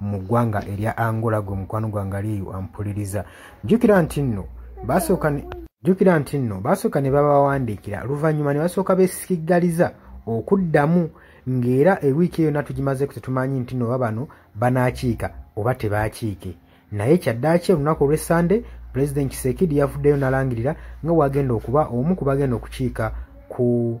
mu ggwanga erya angola gwe mukwano gwange aliyo ampuliriza jjukira nti nno basooka jjukira nti nno basooka ne babawandiikira oluvannyuma ne basooka besikiggaliza okuddamu ng'era ewiiki eyo yonna tugimazeeko tetumanyi nti nno babano banaakiika oba tebaakiike naye kyaddaaki olunaku olw'essande pulezidenti kiseekidi yavuddeyo nalangirira nga bwagenda okuba omu ku bagenda okukiika ku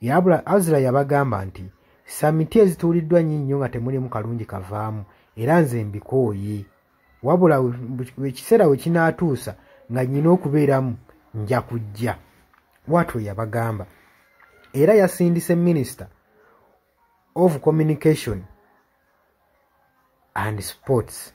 yabula azira yabagamba nti samiti ezituuliddwa nyi nnyo nga temulimu kalungi kavaamu era nze mbikooye wabula ekiseera we kinaatuusa nga nyina okubeeramu nja kujja watwo yabagamba era yasindise minister of communication and sports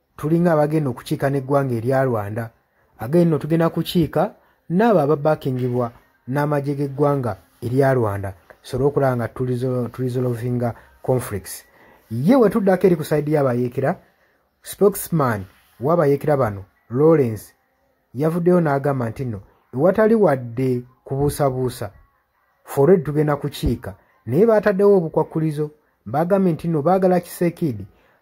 tulinga abagenda okukiika n'eggwanga erya rwanda again no tugenda kukiika n'abo ababakingibwa n'amagye g'eggwanga erya rwanda tusobole okulaba nga turisolovinga conflicts ye wetuddako eri ku saidi y'abayeekera spokesman w'abayeekera bano lawrence yavuddeyo n'agamba nti nno ewatali wadde kubuusabuusa fored tugenda kukiika naye baataddewo obukwakkulizo baagambye nti nno baagala kiseekiidi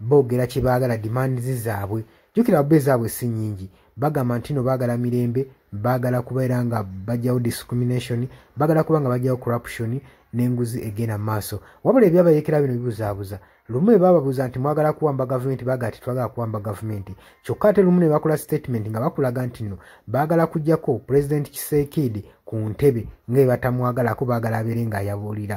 boogera kye baagala dimandizi zaabwe jjukira abba ezaabwe si nyingi bagamba nti no baagala mirembe baagala kubeera nga bajjawo discrimination baagala kuba nga bajjawo corruption n'enguzi egenda mu maaso wabula ebyabayekera bino bibuzaabuza lumu ebababuuza nti mwagala kuwamba gavumenti baga ti twagala kuwamba gavumenti kyokka ate lumu ne bakola statement nga bakulaga nti no baagala kujjako pulezidenti kiseekiidi ku ntebe nga ebatamwagalako baagala abeere ng'ayabuulira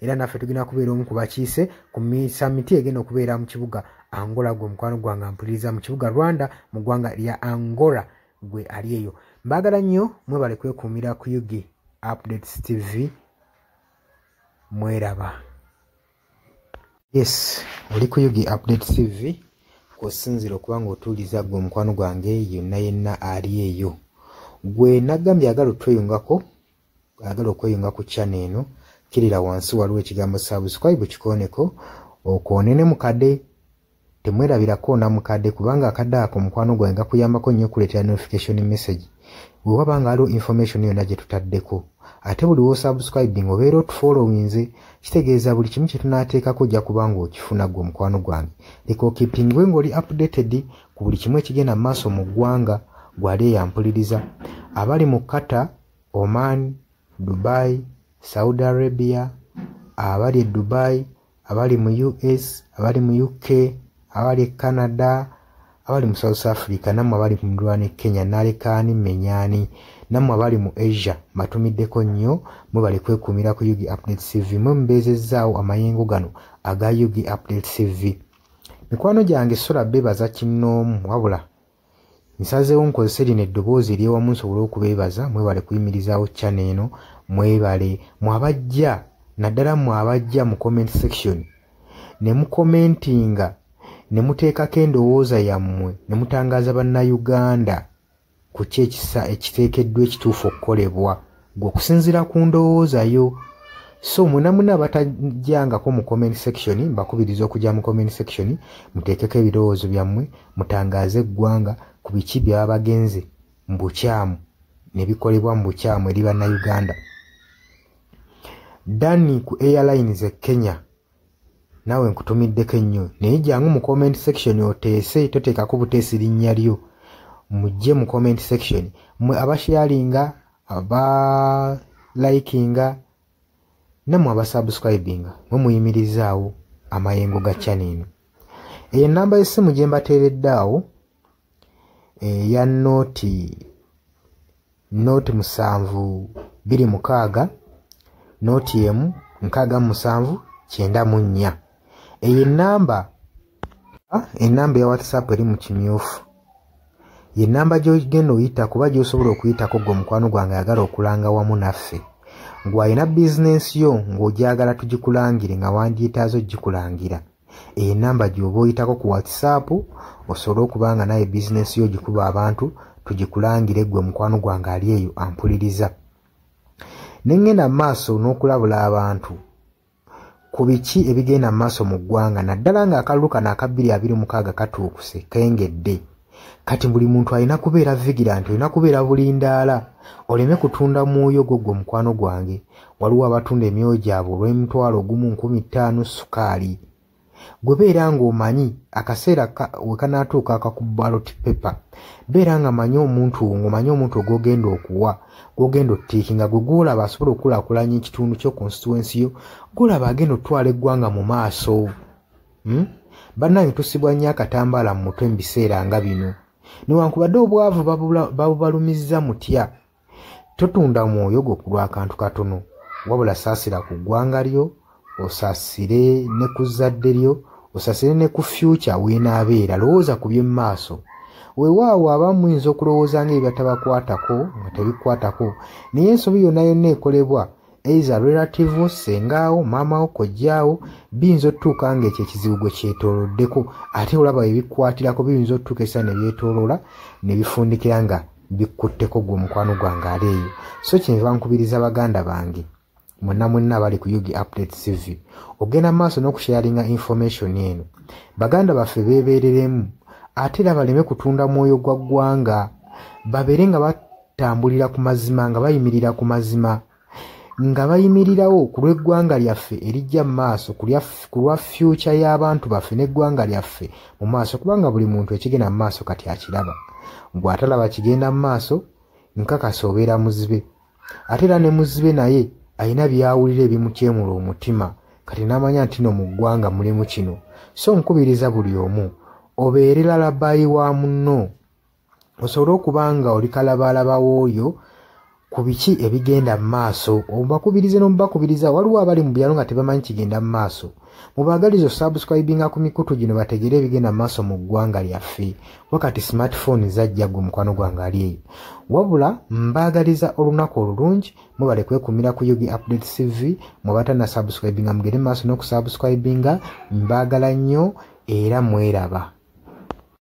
era naffe tugenda kubeera omu ku bakiise ku misamiti egenda okubeera mu kibuga angola gwe mukwano gwange ampuliriza mu kibuga rwanda mu ggwanga lya angola gwe ali eyo mbaagala nnyo mwebale kwekuumira ku yugi updates tv mweraba yes oli ku yugi updates tv kwosinzira okuba nga otuuliza gwe omukwano gwange yonna yenna ali eyo gwe nagambye agala otweyungako ayagala okweyunga ku chana eno kirira wansi waliwo ekigambo subscribe kikooneko okwone ne mukade temwerabirako namukade kubanga akadde ako omukwano gwange gakuyambako nnyo okuleetera notification message wewaba nga aliwo information yonna gye tutaddeko ate buli wosubscribing obeera otufollowinze kitegeeza buli kimu kyetunateekako ojja kubanga okifuna gwe omukwano gwange leka okipingwe ngaoli updated ku buli kimu ekigenda mu maaso mu ggwanga gwali eyampuliriza abali mu kata Oman, Dubai, Saudi Arabia, abali e Dubai, abali mu US, abali mu UK, abali e Canada, abali mu South Africa, namwe abali mu Rwanda e Kenya, nalekaani menyani, namwe abali mu Asia, matumiddeko nnyo, mwebale kwekuumira ku Yugi Update TV, mwe mubeezezzaawo amayengo gano aga Yugi Update TV. Mikwano gyange sula bebaza kinnoomu wabula. nsazeewo nkozese lino eddoboozi eryewamu nsobole okubeebaza mwebale kuyimirizaawo chana eno mwebale mwabajja naddala mwabajja mu comment section ne mukomentinga ne muteekako endowooza yammwe ne mutangaaza bannayuganda ku ki ekisa ekiteekeddwa ekituufu okukolebwa gwe okusinziira ku ndowooza yo so mwena muna abatajangako mu comment section mbakubiriza okujja mu comment section muteekeko ebirowoozo byammwe mutangaaze eggwanga ku biki byaba bagenze mu bukyamu ne bikolebwa mu bukyamu eri bannayuganda dani ku airlines e kenya naawe nkutumiddeko ennyo naye jangu mu comment section oteese toteekako buteesi linnya lyo mujje mu comment section mwe abasharinga aba likinga namwe abasubscribinga mwe muyimirizaawo amayengo ga channel eno eyo ennamba y'essimu gye mbateeredde awo eya nooti not musanvu biri mukaaga not emu nkaaga musanvu kyenda mu nnya eyo enamba ah, enamba ya whatsapp eri mu kimyufu ye namba gyogenda oyita kuba gyosobola okuyitako gwe omukwano gwange ayagala okulanga wamu naffe ngwalina bizinensi yo ng'ogyagala tugikulangire nga wandyetaaza okugikulangira eyo enamba gyoba oyitako ku whatsapp osobole okuba nga naye bizinesi yo gikuba abantu tugikulangire gwe mukwano gwange ali eyo ampuliriza nengenda mu maaso n'okulabula abantu ku biki ebigenda mu maaso mu ggwanga naddala ng'akalulu kano akabbiri abiri mukaaga katuukuse kengedde kati buli muntu alina kubeera vigilanti olina kubeera bulindaala oleme kutunda mwoyo gwo gwe mukwano gwange waliwo abatunda emyoyo gyabwe olw'emitwalo ogumu nkumi ttaano sukaali gwe beera ng'omanyi akaseera we kanaatuuka akakubaloti pepa beera nga manyi omuntu wo ng'omanyi omuntu ogwogenda okuwa gwogenda ottiiki nga gwe gwolaba asobola okukulaakulanya ekitundu kyo konsituwensi yo gwolaba agenda okutwala eggwanga mu maaso hmm? bannange tusibwa nnyo akatambaala mu mutwe mu biseera nga bino newankubadde obwavu babubalumizza mutya totunda mwoyo gwo ku lwakantu katono wabula saasira ku ggwanga lyo osasire ne ku zzadde lyo osasire ne ku fyukya weenaabeera lowooza ku by'emu maaso wewaawo abamu muyinza okulowooza nga ebyatabakwatako nga tebikwatako naye ensobi yonna yonna ekolebwa eiza relative wo sengaawo maama wo kojjaawo biyinza otutuuka nga ekyo ekizibu gwe kyetoloddeko ate olaba ebikwatirako biyinza otutuuka esa nebyetoloola nebifundikira nga bikkutteko gwe omukwano gwange ali eyo so kyenva nkubiriza baganda bange mwena mwena abali ku ug update cv ogenda mu maaso n'okusharinga information eno baganda baffe beebereremu ate era baleme kutunda mwoyo gwa ggwanga babeere nga tambulira ku mazima nga bayimirira ku mazima nga bayimirirawo ku lw'eggwanga lyaffe erijja mu maaso ku lwa fyuca y'abantu baffe n'eggwanga lyaffe mu maaso kubanga buli muntu ekigenda mu maaso kati akiraba bw'atalaba kigenda mu maaso nkakasa obeera muzibe ate era ne muzibe naye alina byawulira ebimukyemula omutima kati n'amanya nti no mu ggwanga mulimu kino so nkubiriza buli omu obeere lalabayi wa munno osobole okuba nga oli kalabaalaba w'oyo ku biki ebigenda mu maaso obakubirize n'omubakubiriza waliwo abali mu byalo nga tebamanyi kigenda mu maaso mubaagaliza osubscribinga ku mikutu gino bategere ebigenda mu maaso mu ggwanga lyaffe kuba kati smartphone zajja gwe mukwano gwange ali eyo wabula mbaagaliza olunaku olulungi mubale kwekumira ku yugi update cv mubatana subscribinga mugere mu maaso n'okusubscribinga mbaagala nnyo era mweraba